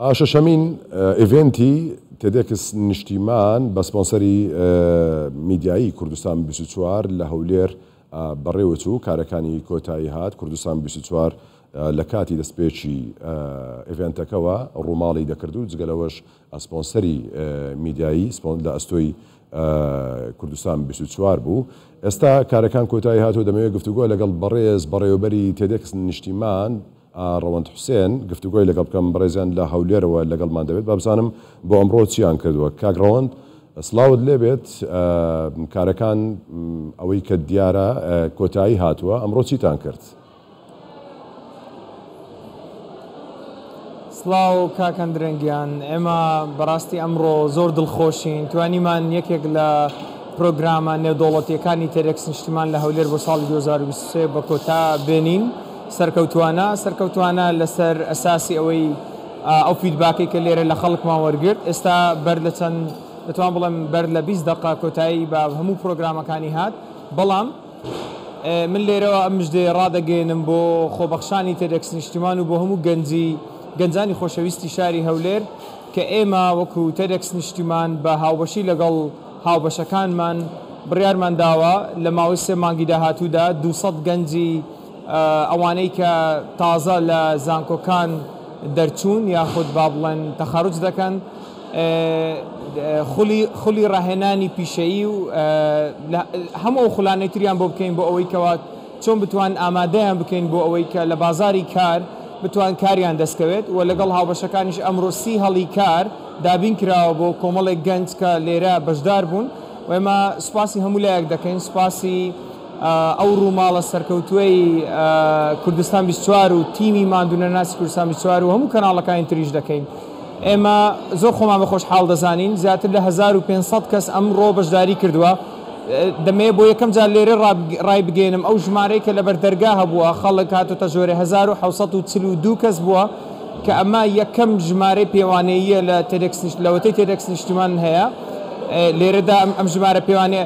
ئا شەشەمین ئیڤێنتی تێدێکس نیشتیمان بە سپۆنسەری میدیایی کوردستان بیست و چوار لە هەولێر بەڕێوەچوو، کارەکانی کۆتاییهات، کوردستان بیست و چوار لە کاتی دەستپێکی ئیڤێنتەکەوە ڕووماڵی دەکرد و جگە لەوەش سپۆنسەری میدیایی لە ئەستۆی کوردستان بیست و چوار بوو، ئێستا کارەکان کۆتاییهات و دەمەوێت گفتوگۆ لەگەڵ بەڕێز بەڕێوەبەری تێدێکس نیشتیمان، ڕەوەند حوسێن، گفتوگۆی لەگەڵ بکەم، بەڕێزیان لە هەولێرەوە لەگەڵمان دەبێت، با بزانم بۆ ئەمڕۆ چییان کردووە. کاک ڕەوەند، سڵاوت لێ بێت، کارەکان ئەوەی کە دیارە کۆتایی هاتووە، ئەمڕۆ چیتان کرد؟ سڵاو کاک ئەندرێن گیان، ئێمە بەڕاستی ئەمڕۆ زۆر دڵخۆشین، توانیمان یەکێک لە پرۆگرامە نێودەوڵەتییەکانی تێدێکس نیشتیمان لە هەولێر بۆ ساڵی دوو هەزار و بیست و سێ بە کۆتا بێنین، سەرکەوتووانە، سەرکەوتووانە لەسەر ئەساسی ئەوەی ئەو فیدباکەی کە لێرە لە خەڵکمان وەرگرت، ئێستا بەر لە چەند دەتوانم بڵێم بەر لە بیست دەقە کۆتایی بە هەموو پرۆگرامەکانی هات، بەڵام من لێرەوە ئەم مژدەیە ڕادەگەیەنم بۆ خۆبەخشانی تێدێکس نیشتیمان و بۆ هەموو گەنجی گەنجانی خۆشەویستی شاری هەولێر کە ئێمە وەکوو تێدێکس نیشتیمان بە هاوبەشی لەگەڵ هاوبەشەکانمان بڕیارمان داوە لە ماوەی سێ مانگی داهاتوودا دوو سەد گەنجی ئەوانەی کە تازە لە زانکۆکان دەرچوون یاخود با بڵێن تەخەروج دەکەن خولی خولی ڕاهێنانی پیشەیی و هەموو ئەو خولانەی تریان بۆ بکەین بۆ ئەوەی کەوا چۆن بتوان ئامادەیان بکەین بۆ ئەوەی کە لە بازاری کار بتوان کاریان دەستکەوێت و لەگەڵ هاوبەشەکانیش ئەمڕۆ سی هەڵی کار دابین کراوە بۆ کۆمەڵێک گەنج کە لێرە بەشدار بوون و ئێمە سوپاسی هەموو لایەک دەکەین سوپاسی ئەو ڕووماڵە سەرکەوتووەی کوردستان بیست و چوار و تیمی ماندوونەناسی کوردستان بیست و چوار و هەموو کەناڵەکانی تریش دەکەین. ئێمە زۆر خۆمان بە خۆشحاڵ دەزانین، زیاتر لە هەزار و پێنج سەد کەس ئەمڕۆ بەشداری کردووە. دەمەوێت بۆ یەکەم جار لێرە ڕایبگەیەنم ئەو ژمارەی کە لەبەر دەرگا هەبووە خەڵک هاتۆتە ژۆرێ هەزار و حەوت سەد و چل و دوو کەس بووە کە ئەمە یەکەم ژمارەی پێوانەییە لە تێدێکس لەوەتەی تێدێکس نیشتیمان هەیە لێرەدا ئەم ژمارە پێوانەیە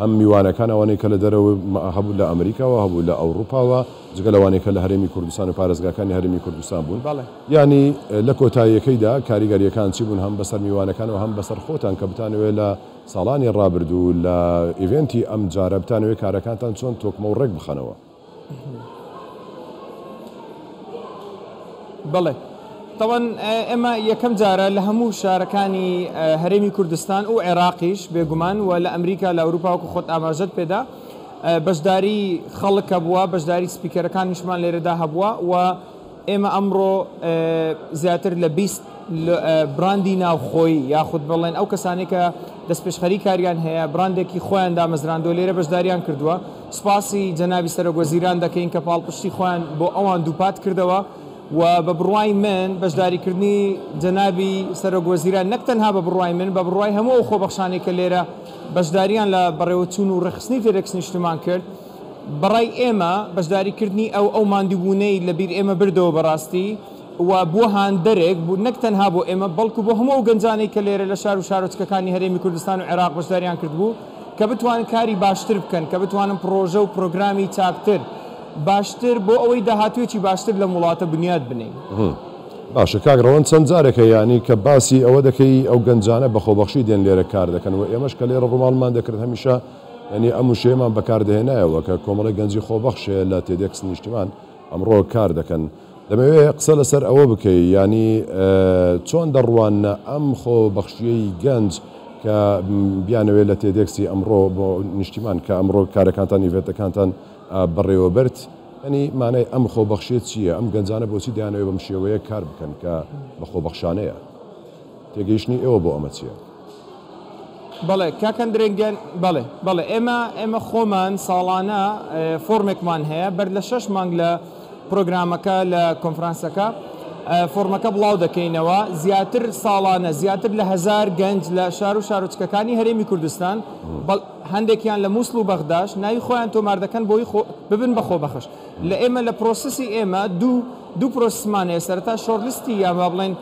هەم میوانەکان ئەوانەی کە لە دەرەوە هەبوون لە ئەمریکاوە هەبوو لە ئەوڕوپاوە جگە لەوانەی کە لە هەرێمی کوردستان و پارێزگاکانی هەرێمی کوردستان بوون یانی لە کۆتاییەکەیدا کاریگەریەکان چی بوون هەم بەسەر میوانەکان و هەم بەسەر خۆتان کە بتانەوێت لە ساڵانی ڕابردوو لە ئیڤێنتی ئەم جارە بتانەوێت کارەکانتان چۆن تۆکمە و ڕێک بخەنەوە؟ بەڵێ تەوان ئێمە یەکەم جارە لە هەموو شارەکانی هەرێمی کوردستان و عێراقیش بێگومان و لە ئەمریکا لە ئەوروپاوەکو خۆت ئاماژەت پێدا بەشداری خەڵکە بووە بەشداری سپیکەرەکانیشمان لێرەدا هەبووە و ئێمە ئەمڕۆ زیاتر لە بیست براندی ناوخۆی یاخود بڵێن ئەو کەسانەی کە دەستپێشخەری کاریان هەیە براندێکی خۆیان دامەزراندووە لێرە بەشداریان کردووە، سوپاسی جەنابی سەرۆک وەزیران دەکەین کە پاڵپشتی خۆیان بۆ ئەوان دووپات کردەوە و بە بڕوای من بەشداریکردنی جەنابی سەرۆک وەزیران نەک تەنها بە بڕوای من بە بڕوای هەموو ئەو خۆبەخشانەی کە لێرە بەشداریان لە بەڕێوەچوون و ڕێکخستنی تێدەکسنیشتمان کرد بەڕای ئێمە بەشداری کردنی ئەو ئەو ماندووبوونەی لەبیر ئێمە بردەوە بەڕاستی و بووە هاندەرێک بوو نەک تەنها بۆ ئێمە بەڵکو بۆ هەموو ئەو گەنجانەی کە لێرە لە شار و شارۆچکەکانی هەرێمی کوردستان و عێراق بەشداریان کردبوو کە بتوانن کاری باشتر بکەن کە بتوانن پڕۆژە و پڕۆگرامی چاکتر باشتر بۆ ئەوەی داهاتوویەکی باشتر لەم وڵاتە بنیات بنێین. باشە کاک ڕەوەند چەند جارێک یانی کە باسی ئەوە دەکەی ئەو گەنجانە بە خۆبەخشی دێن لێرە کار دەکەن و ئێمەش کە لێرە ڕووماڵمان دەکرد هەمیشە یانی ئەم وشەیەمان بەکار دەهێنایەوە کە کۆمەڵێک گەنجی خۆبەخش هەیە لە تێدێکس نیشتیمان ئەمڕۆ کار دەکەن. دەمەوێ قسە لەسەر ئەوە بکەی یانی چۆن دەڕواننە ئەم خۆبەخشییەی گەنج کە بیانەوێ لە تێدێکسی ئەمڕۆ بۆ نیشتیمان کە ئەمڕۆ کارەکانتان ئیڤێنتەکانتان بەڕێوەبەرت یانی مانای ئەم خۆبەخشییە چییە؟ ئەم گەنجانە بۆچی دەیانەوێ بەم شێوەیە کار بکەن کە بە خۆبەخشانەیە؟ تێگەیشتنی ئێوە بۆ ئەمە چییە؟ بەڵێ کاک ئەندرێ گیان، بەڵێ بەڵێ ئێمە ئێمە خۆمان ساڵانە فۆرمێکمان هەیە بەر لە شەش مانگ لە پرۆگرامەکە لە کۆنفرانسەکە فۆرمەکە بڵاو دەکەینەوە زیاتر ساڵانە زیاتر لە هزار گەنج لە شار و شارۆچکەکانی هەرێمی کوردستان هەندێکیان لە مووسڵ و بەغداش ناوی خۆیان تۆمار دەکەن بۆی ببن بە خۆبەخش لە ئێمە لە پرۆسسی ئێمە دوو دوو پرۆسسمان هەیە سەرەتا شۆرلیستی یان با بڵێن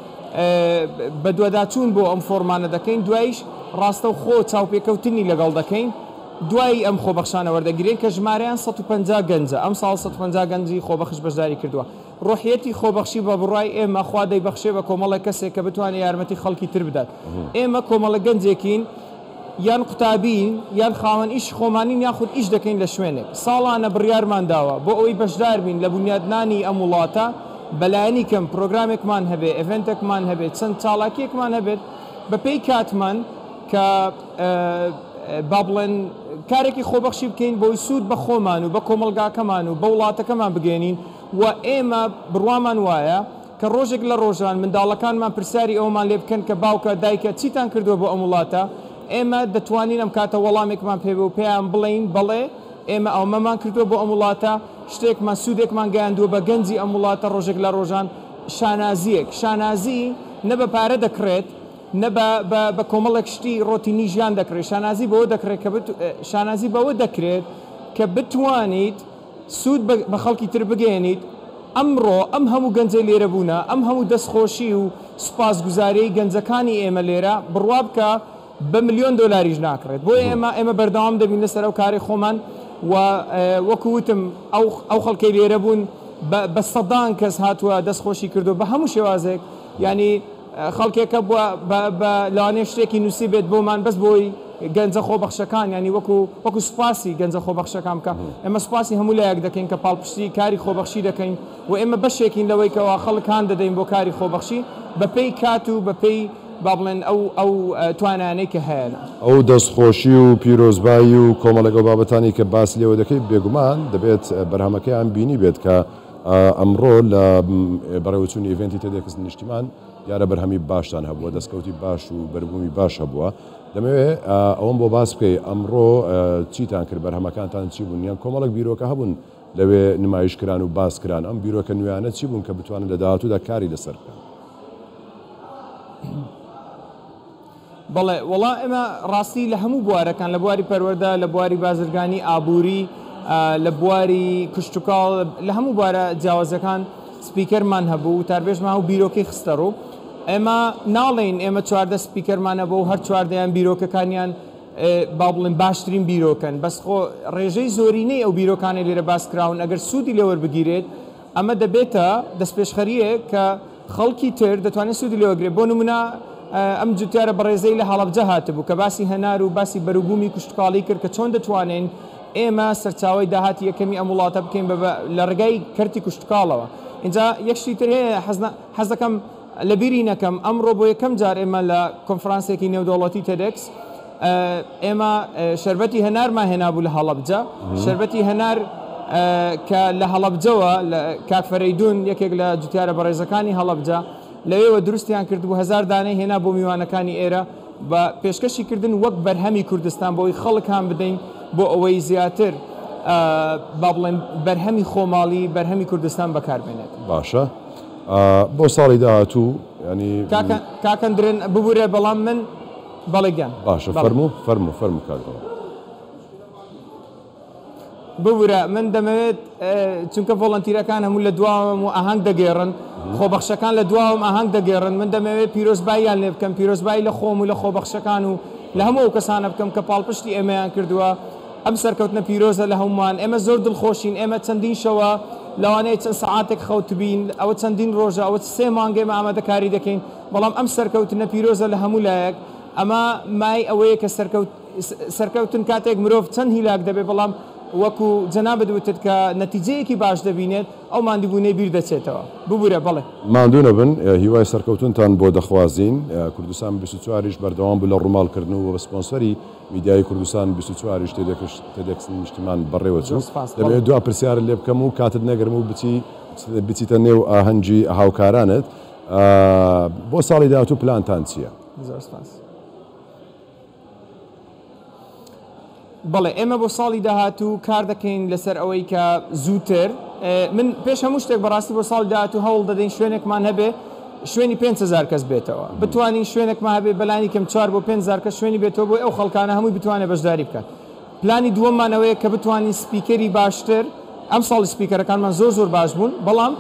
بەدواداچوون بۆ ئەم فۆرمانە دەکەین دوایش ڕاستەو خۆ چاوپێکەوتنی لەگەڵ دەکەین دوای ئەم خۆبەخشانە وەردەگیرێن کە ژمارەیان 150 گەنجە ئەم ساڵ 150 گەنجی خۆبەخش بەشداری کردووە ڕۆحیەتی خۆبەخشی بە بڕای ئێمە خوا دەیبەخشێ بە کۆمەڵێک کەسێک کە بتوانێت یارمەتی خەڵکی تر بدات ئێمە کۆمەڵە گەنجێکین یان قوتابیین، یان خاوەن ئیشی خۆمانین یاخود ئیش دەکەین لە شوێنێک. ساڵانە بڕیارمان داوە بۆ ئەوەی بەشدار بین لە بونیادنانی ئەم وڵاتە، بە لایەنی کەم پرۆگرامێکمان هەبێت، ئێڤێنتێکمان هەبێت، چەند چالاکییەکمان هەبێت بە پێی کاتمان کە با بڵێن کارێکی خۆبەخشی بکەین بۆی سوود بە خۆمان و بە کۆمەڵگاکەمان و بە وڵاتەکەمان بگەیەنین و ئێمە بڕوامان وایە کە ڕۆژێک لە ڕۆژان منداڵەکانمان پرسیاری ئەوەمان لێ بکەن کە باوکە، دایکە چیتان کردووە بۆ ئەم وڵاتە؟ ئێمە دەتوانین ئەم کاتە وەڵامێکمان پێ بێ و پێیان بڵێین، بەڵێ، ئێمە ئەمەمان کردووە بۆ ئەم وڵاتە، شتێکمان، سوودێکمان گەیاندووە بە گەنجی ئەم وڵاتە ڕۆژێک لە ڕۆژان، شانازییەک، شانازی نە بە پارە دەکڕێت، نە بە بە بە کۆمەڵێک شتی ڕۆتینی ژیان دەکڕێت، شانازی بەوە دەکڕێت کە بت شانازی بەوە دەکرێت کە بتوانیت، سوود بە خەڵکی تر بگەیەنیت، ئەمڕۆ ئەم هەموو گەنجەی لێرە بوونە، ئەم هەموو دەستخۆشی و سوپاسگوزاریەی گەنجەکانی ئێمە لێرە، بڕوابکە بە ملیۆن دۆلاریش ناکڕێت، بۆیە ئێمە ئێمە بەردەوام دەبین لەسەر ئەو کارەی خۆمان و وەکو وتم ئەو ئەو خەڵکەی لێرە بوون بە بە سەدان کەس هاتووە دەستخۆشی کردووە بە هەموو شێوازێک یانی خەڵکێکە بوە بە لەوانەیە شتێکی نوسیبێت بۆمان بەس بۆی گەنجە خۆبەخشەکان یانی وەکو وەکو سوپاسی گەنجە خۆبەخشەکان بکە ئێمە سوپاسی هەموو لایەک دەکەین کە پاڵپشتی کاری خۆبەخشی دەکەین و ئێمە بەشێکین لەوەی کەوا خەڵک هان دەدەین بۆ کاری خۆبەخشی بەپێی کات و بەپێی با بڵێن ئەو ئەو توانانەی کە هەیە لە. ئەو دەستخۆشی و پیرۆزبایی و کۆمەڵێک ئەو بابەتانەی کە باس لێوە دەکەی بێگومان دەبێت بەرهەمەکەیان بینیبێت کە. ئەمڕۆ لە بەڕێوەچوونی ئیڤێنتی تێدێکس نیشتیمان دیارە بەرهەمی باشتان هەبووە دەستکەوتی باش و بەربوومی باش هەبووە دەمەوێ ئەوەم بۆ باس بکەی ئەمڕۆ چیتان کرد بەرهەمەکانتان چی بوون یان کۆمەڵک بیرۆکە هەبوون لەوێ نمایش کران و باس کران ئەم بیرۆکە نوێیانە چی بوون کە بتوانن لە داهاتوودا کاری لەسەر بکەن بەڵێ وەڵا ئێمە ڕاستی لە هەموو بوارەکان لە بواری پەروەردە لە بواری بازرگانی ئابووری لە بواری کشتوکاڵ لە هەموو بوارە جیاوازەکان سپیکەرمان هەبوو وتاربێژمان و بیرۆکەی خستە ڕوو ئێمە ناڵێین ئێمە چواردە سپیکەرمان هەبوو و هەر چواردەیان بیرۆکەکانیان با بڵێن باشترین بیرۆکەن بەس خۆ ڕێژەی زۆرینەی ئەو بیرۆکانەی لێرە باس کراون ئەگەر سوودی لێ وەربگیرێت ئەمە دەبێتە دەستپێشخەرییەک کە خەڵکی تر دەتوانێت سوودی لێ وەرگرێت، بۆ نموونە ئەم جوتیارە بەڕێزەی لە هەڵەبجە هاتبوو کە باسی هەنار و باسی بەروبوومی کشتوکاڵی کرد کە چۆن دەتوانین ئێمە سەرچاوەی داهاتی یەکەمی ئەم وڵاتە بکەین بە لە ڕێگای کەرتی کشتوکاڵەوە. ئینجا یەک شتی تر هەیە حەز دەکەم لەبیری نەکەم، ئەمڕۆ بۆ یەکەم جار ئێمە لە کۆنفرانسێکی نێودەوڵەتی تێدێکس، ئێمە شەربەتی هەنارمان هێنابوو لە هەڵەبجە، شەربەتی هەنار کە لە هەڵەبجەوە کاک فەرەیدون یەکێک لە جوتیارە بەڕێزەکانی هەڵەبجە لەوێوە دروستیان کردبوو هەزار دانەی هێنا بۆ میوانەکانی ئێرە بە پێشکەشی کردن وەک بەرهەمی کوردستان بۆی خەڵک هان بدەین بۆ ئەوەی زیاتر با بڵێن بەرهەمی خۆماڵی بەرهەمی کوردستان بەکار بێنێت. باشە بۆ ساڵی داهاتوو ینی. کاکە کاکە درێن ببورە بەڵام من بەڵێ گیان باشە بەڵێ. فەرموو فەرموو فەرموو کاک دڵە. ببورە من دەمەوێت ئە چونکە ڤۆڵەنتیرەکان هەموو لە دواوەم و ئاهەنگ دەگێڕن خۆبەخشەکان لە دواوەم ئاهەنگ دەگێڕن من دەمەوێت پیرۆزباییان لێ بکەم پیرۆزبایی لە خۆم و لە خۆبەخشەکان و لە هەموو ئەو کەسانە بکەم کە پاڵپشتی ئێمەیان کردووە ئەم سەرکەوتنە پیرۆزە لە هەموومان ئێمە زۆر دڵخۆشین ئێمە چەندین شەوە لەوانەیە چەند سەعاتێک خەوتبین ئەوە چەندین ڕۆژە ئەوە سێ مانگە ئێمە ئامادەکاری دەکەین بەڵام ئەم سەرکەوتنە پیرۆزە لە هەموو لایەک، ئەمە مایەی ئەوەیە کە سەرکەوت سەرکەوتن کاتێک مرۆڤ چەند هیلاک دەبێت، بەڵام وەکو جەنابت وتت کە نەتیجەیەکی باش دەبینێت، ئەو ماندووبوونەی بیر دەچێتەوە. ببورە، بەڵێ. ماندوو نەبن، هیوای سەرکەوتنتان بۆ دەخوازین. کوردستان بیست و چوار یش بەردەوام بوو لە ڕووماڵ کردن و وەک سپۆنسەری میدیایی کوردستان بیست و چوار یش تێدێکش تێدێکس نیشتیمان بەڕێوە چوو. دەمەوێت دوا پرسیارت لێ بکەم و کاتت نەگرم و بچی بچیتە نێو ئاهەنگی هاوکارانت. بۆ ساڵی داهاتوو پلانتان چییە؟ زۆر سپاس. بەڵێ ئێمە بۆ ساڵی داهاتوو کار دەکەین لەسەر ئەوەی کە زووتر من پێش هەموو شتێک بەڕاستی بۆ ساڵی داهاتوو هەوڵ دەدەین شوێنێکمان هەبێ شوێنی پێنج هەزار کەس بێتەوە بتوانین شوێنێکمان هەبێ بەلانیکەم چوار بۆ پێنج هەزار کەس شوێنی بێتەوە بۆی ئەو خەڵکانە هەمووی بتوانێت بەشداری بکات پلانی دووەممان ئەوەیە کە بتوانین سپیکەری باشتر، ئەمساڵ سپیکەرەکانمان زۆر زۆر باش بوون، بەڵام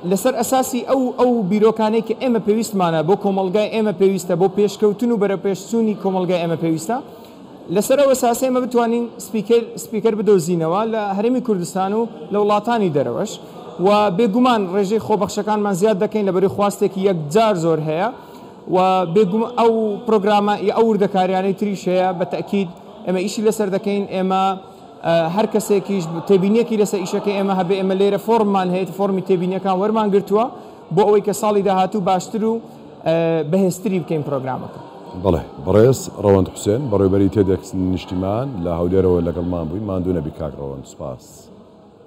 لەسەر ئەساسی ئەو ئەو بیرۆکانەی کە ئێمە پێویستمانە بۆ کۆمەڵگای ئێمە پێویستە، بۆ پێشکەوتن و بەرەوپێشچوونی کۆمەڵگای ئێمە پێویستە، لەسەر ئەو ئەساسە ئێمە بتوانین سپیکەر سپیکەر بدۆزینەوە لە هەرێمی کوردستان و لە وڵاتانی دەرەوەش و بێگومان ڕێژەی خۆبەخشەکانمان زیاد دەکەین لەبەرەی خواستێکی یەکجار زۆر هەیە و بێگومان ئەو پرۆگرامە ی ئەو وردەکاریانەی تریش هەیە بە تەئکید ئێمە ئیشی لەسەر دەکەین، ئێمە هەر کەسێکیش تێبینیەکی لەسەر ئیشەکەی ئێمە هەبێ، ئێمە لێرە فۆرممان هەیە، فۆرمی تێبینیەکان وەرمان گرتووە بۆ ئەوەی کە ساڵی داهاتوو باشتر و بەهێزتری بکەین پرۆگرامەکە. بەڵێ. بەڕێز ڕەوەند حوسێن، بەڕێوەبەری تێدێکس نیشتیمان لە هەولێرەوە لەگەڵمان بووی، ماندوو نەبی کاک ڕەوەند. سوپاس.